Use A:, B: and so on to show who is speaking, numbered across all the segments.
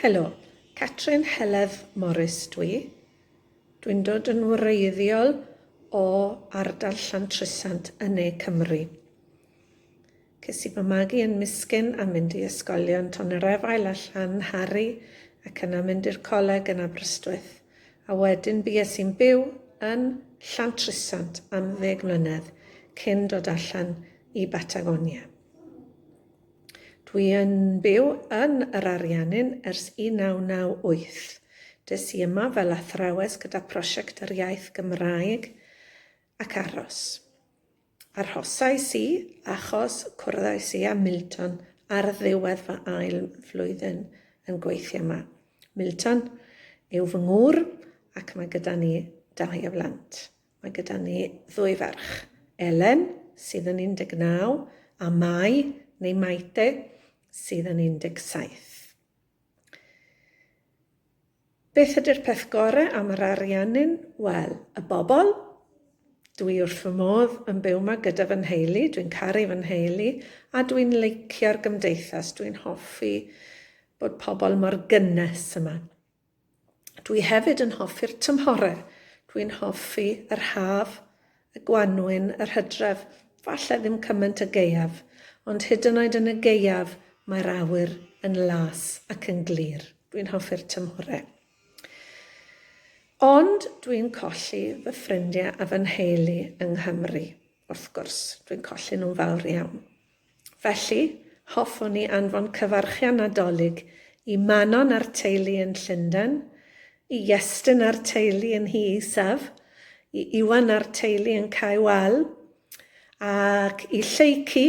A: Helo, Catrin Heledd Morris dw i. Dw i'n dod yn wreiddiol o ardal Llantrisant yn ne Cymru. Ces i fy magu yn Miskin a mynd i ysgolion Tonerefail a Llanhari ac yna mynd i'r coleg yn Aberystwyth a wedyn bues i'n byw yn Llantrisant am ddeg mlynedd cyn dod allan i Batagonia. Dwi yn byw yn yr Ariannin ers 1998. Des i yma fel athrawes gyda Prosiect yr Iaith Gymraeg ac aros. Arhosais i achos cwrddais i â Milton ar ddiwedd fy ail flwyddyn yn gweithio yma. Milton yw fy ngŵr ac mae gyda ni dau o blant. Mae gyda ni ddwy ferch, Elen, sydd yn 19, a Mai, neu Maite, sydd yn 17. Beth ydy'r peth gorau am yr Ariannin? Wel, y bobl. Dwi wrth fy modd yn byw yma gyda fy nheulu, dwi'n caru fy nheulu, a dwi'n leicio'r gymdeithas, dwi'n hoffi bod pobl mor gynnes yma. Dwi hefyd yn hoffi'r tymhore. Dwi'n hoffi yr haf, y gwanwyn, yr hydref, falle ddim cymaint y gaeaf, ond hyd yn oed yn y gaeaf mae'r awyr yn las ac yn glir. Dwi'n hoffi'r tymhore. Ond dwi'n colli fy ffrindiau a fy nheulu yng Nghymru, wrth gwrs. Dwi'n colli nhw'n fawr iawn. Felly, hoffwn i anfon cyfarchion Nadolig i Manon a'r teulu yn Llundain, i Iestyn a'r teulu yn Nhŷ Isaf, i Iwan a'r teulu yn Cae Wal, ac i Lleucu,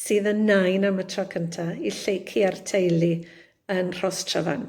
A: sydd yn nain am y tro cynta, i Lleucu a'r teulu yn Rhostryfan.